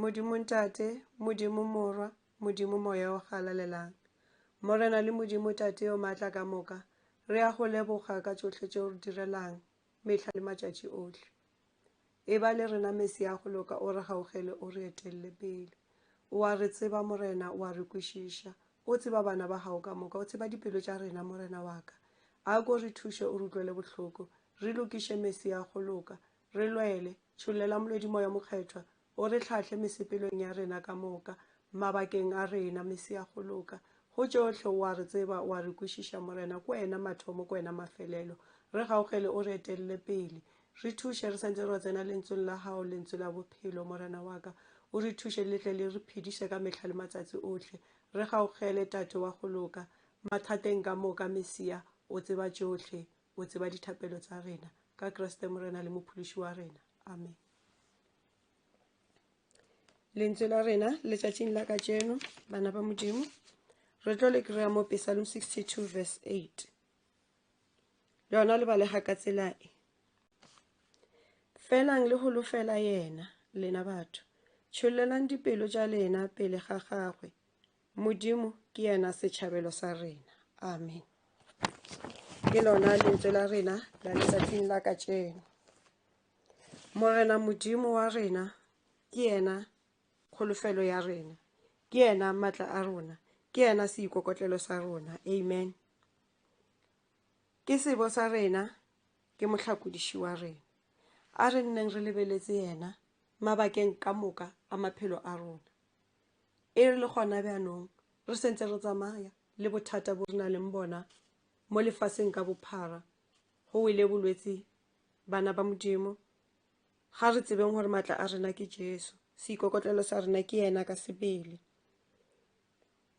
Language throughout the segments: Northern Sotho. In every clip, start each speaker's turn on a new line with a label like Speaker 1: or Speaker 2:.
Speaker 1: Modimo Ntate, Modimo Morwa, Modimo Moya o Galalelang. Morena le Modimo Tate yo Maatla ka moka, re a Go leboga ka tšohle tše O re direlang, mehla le matšatši ohle. Eba le rena, Mesia a go loka, o re gaugele, o re etelele pele. O a re tseba, Morena, o a re kwešiša. O tseba bana ba gago ka moka, o tseba dipelo tša rena, Morena wa ka. A ko re thuše, o re utlwele bohloko. Re lokiše, Mesia a go loka, Re lwele. Tšhollela Molwedi Moya Mokgethwa, o re hlahle mesepelong ya rena ka moka, mabakeng a rena, Mesia go loka. Go tšohle, O a re tseba, O a re kwešiša, Morena. Ko wena mathomo, ko wena mafelelo. Re gaugele, o re etelele pele. Re thuše re sa ntse re tsena Lentsweng la Gago, Lentswe la Bophelo, Morena wa ka. O re thuše le tle le re phediše ka mehla le matsatsi ohle. Re gaugele, Tate wa go loka, mathateng ka moka, Mesia, O tseba tšohle. O tseba dithapelo tsa rena. Ka Kriste Morena le Mophološi wa rena. Amen. Lentswe la rena letšatšing la ka tšeno, bana ba Modimo, re tlo le kry-a mo Psalm 62 verse 8. Le yona le balega ka tsela e. Felang le holofela yena, lena batho. Tšhollelang dipelo tša lena pele ga gagwe, Modimo ke yena setšhabelo sa rena. Amen. Ke lona lentswe la rena la letsatsing la ka tšeno. Morena Modimo wa rena ke yena kgolofelo ya rena. Ke yena matla a rona. Ke yena seikokotlelo sa rona. Amen. Ke sebo sa rena, ke mohlakodiši wa rena. A re nneng re lebeletse yena mabakeng ka moka a maphelo a rona. E re le gona bjanong re sentse re tsamaya le bothata bo re na leng bona mo lefaseng ka bophara, go wele bolwetsi bana ba Modimo, ga re tsebeng gore matla a rena ke Jesu, seikokotlelo sa rena ke yena ka sebele.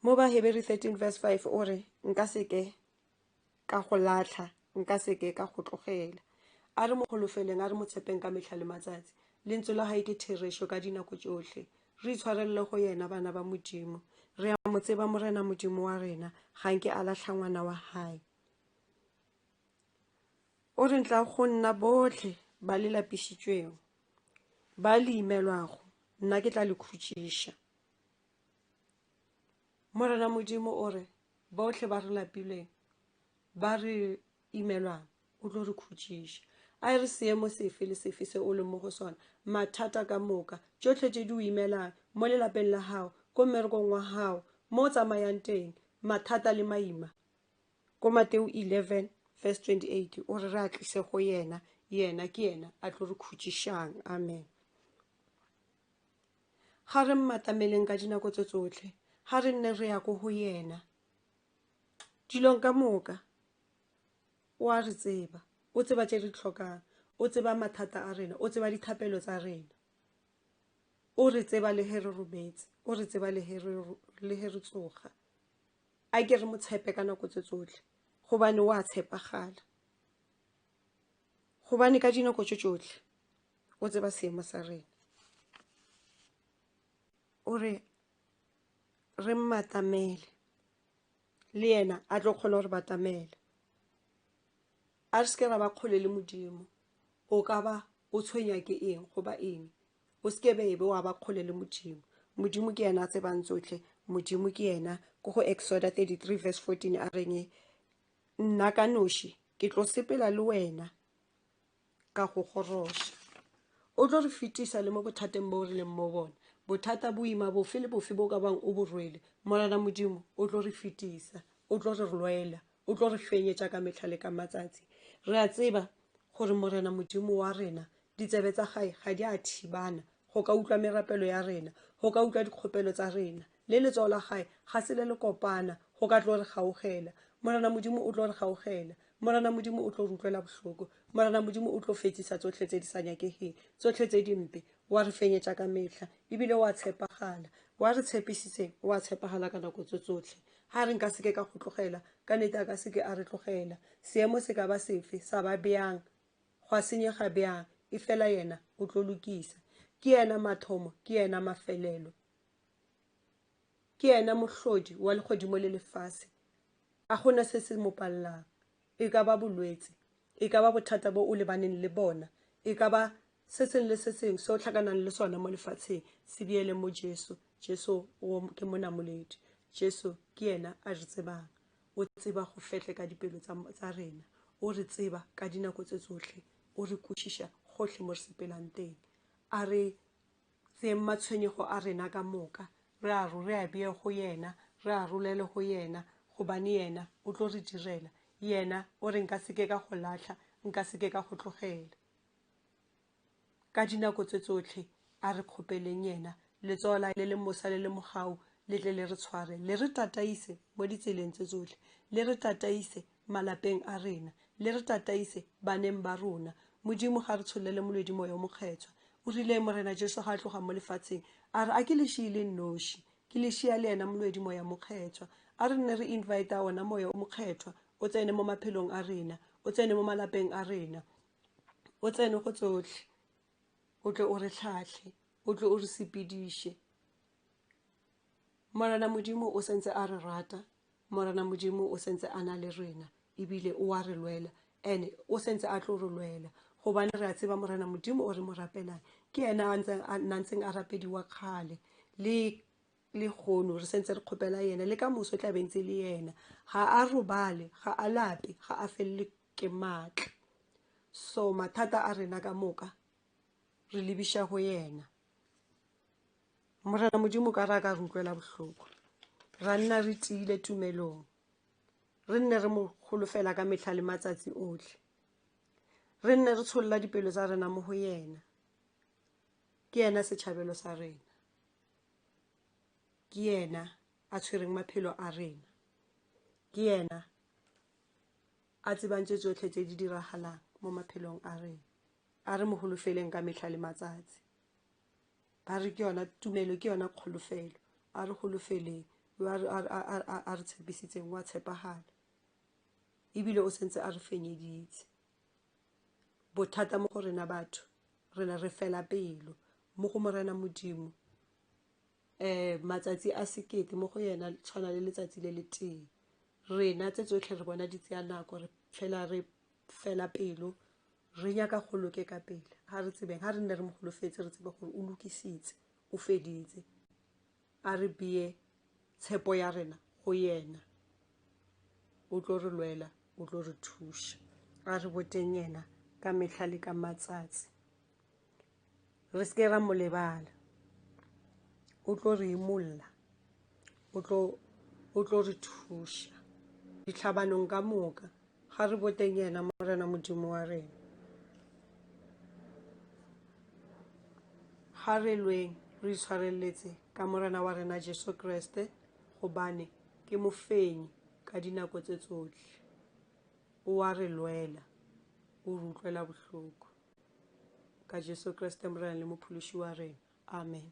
Speaker 1: Mo Baheberi 13 verse 5 o re nka seke ka go latlha nka seke ka go tlogela a re mo golofeleng a re mo tshepeng ka metlha le matsatsi lentswe la gae ke therešo ka dinako tšohle re itshwarelele go yena bana ba modimo re a mo tseba morena modimo wa rena ga nke a latlha ngwana wa gae o re ntla go nna botlhe ba le lapišitšwego ba le imelwago nna ke tla le khutšiša Morena Modimo o re, Bohle ba re lapilweng ba re imelwang o tlo re khutšiša. A e re seemo sefe le sefe se o leng mo go sona, mathata ka moka, tšohle tše di o imelang mo lelapeng la gago, ko mmerekong wa gago, mo o tsamayang teng, mathata le maima. Ko Mateo 11 verse 28 o re re a tlise go yena, yena ke yena a tlo re khutšišang. Amen. Ga re mmatameleng ka dinako tse tsotlhe, ga re nne re ya ko go yena. Dilong ka moka o a re tseba, o tseba tse re di tlhokang, o tseba mathata a rena, o tseba dithapelo tsa rena, o re tseba le ge re robetse, o re tseba le ge re tsoga. A ke re mo tshepe ka nako tse tsotlhe gobane o a tshepagala. gobane ka dinako tso tsotlhe o tseba seemo sa rena o re re mmatamele le yena a tlo kgona gore batamele a re seke ra ba kgole le modimo o ka ba o tshwenya ke eng goba eng o seke bebe wa ba kgole le modimo modimo ke yena a tsebang tsotlhe modimo ke yena ko go exoda 33 verse 14 a reng Nna ka noši ke tlo sepela le wena ka go goroša. O tlo re fetisa le mo bothateng bo re leng mo bona. Bothata boima bofe le bofe bo ka bang o bo rwele, Morena Modimo o tlo re fetisa, o tlo re lwela, o tlo re fenyetša ka mehla le ka matsatsi. Re a tseba gore Morena Modimo wa rena ditsebe tsa gae ga di a thibana go ka utlwa merapelo ya rena, go ka utlwa dikgopelo tsa rena. Le letsogo la gae ga se le le kopana, go ka tlo re kgaogela. Morena Modimo o tlo re kgaogela. Morena Modimo o tlo re utlwela bohloko. Morena Modimo o tlo fetšisa tsohle tse di sa nyakegeng, tsohle tse dimpe. O a re fenyetša ka mehla, ebile o a tshepagala. O a re tshepisitse, o a tshepagala ka nako tso tsohle. Ha re, Nka se ke ka go tlogela, ka nnete a ka se ke a re tlogela. Seemo se ka ba sefe, sa ba bjang, gwa senyega bjang, efela yena o tlo lokisa. Ke yena mathomo, ke yena mafelelo. Ke yena mohlodi wa legodimo le lefase. A go na se se mo pallang, e ka ba bolwetse, e ka ba bothata bo o lebaneng le bona, e ka ba se sengwe le se sengwe se o tlhakanang le sona mo lefatsheng, se beele mo Jesu. Jesu o ke monamoledi. Jesu ke yena a re tsebang. O tseba go fetle ka dipelo tsa, tsa rena. O re tseba ka dinako tse tsotlhe. O re kwešiša gohle mo re sepelang teng. A re Tseyeng matshwenyego a rena ka moka, re a rure a bee go Yena, re a rulele go Yena, gobane Yena o tlo re direla. Yena o re, Nka se ke ka go lahla, Nka se ke ka go tlogela. Ka dinako tse tsotlhe, a re kgopeleng Yena, letsogo la le le mosa le le mogau le tle le re tshware, le re tataise mo ditseleng tse tsotlhe, le re tataise malapeng a rena, le re tataise baneng ba rona. Modimo, ga re tsholele Molwedi Moya wo Mokgethwa. O rile, Morena Jesu ga a tloga mo lefaseng, a re, A ke le šie le nnoši. Ke le šia le yena Molwedi Moya Mokgethwa. A re nne re invita wona Moya o Mokgethwa o tsene mo maphelong a rena, o tsene mo malapeng a rena, o tsene go tsohle, o tle o re hlahle, o tle o re sepediše. Morena Modimo o sentse a re rata, Morena Modimo o sentse a na le rena, ebile o a re lwela, ene o sentse a tlo re lwela, gobane re a tseba Morena Modimo o re mo rapelang ke ena a ntseng a na ntseng a rapediwa kgale le le kgono re sentse re kgopela yena le ka moso tla bentse le yena ga a robale ga a lape ga a felele ke maatla so mathata a rena ka moka re lebiša go yena Morena Modimo ka ra ka re utlwela bohloko ra nna re tiile tumelong re nne re mo golofela ka mehla le matsatsi otlhe re nne re tsholola dipelo tsa rena mo go yena ke yena setšhabelo sa rena ke yena a tshwereng maphelo a rena ke yena a tsebang tse tsotlhe tse di diragalang mo maphelong a rena a re mo golofeleng ka mehla le matsatsi Ba re ke yona tumelo, ke yona kgolofelo. A re holofeleng, yo a re, a, a, a, a, a re tshepisitseng o a tshepagala, ebile o sentse a re fenyeditse. Bothata mo go rena batho, re ne re fela pelo mo go Morena Modimo. Um matsatsi a sekete mo go yena tshwana le letsatsi le le tee. Rena tse tsotlhe re bona di tsaya nako, re phela re fela pelo Re nyaka go loke ka pela. Ga re tsebeng, ga re nne re mo holofetse, re tsebe gore o lokisitse, o feditse. A re bee tshepo ya rena go yena. O tlo re lwela, o tlo re thuša. A re boteng yena ka mehla le ka matsatsi. re se ke ra mo lebala o tlo re imolla o tlo re thuša ditlhabanong ka moka ga re boteng yena morena modimo wa rena ga re lweng re itshwareletse ka morena wa rena jesu kreste gobane ke mofenyi ka dinako tse tsotlhe o wa re lwela o re utlwela bohloko Ka Jesu Kriste Morena le Mophološi wa rena. Amen.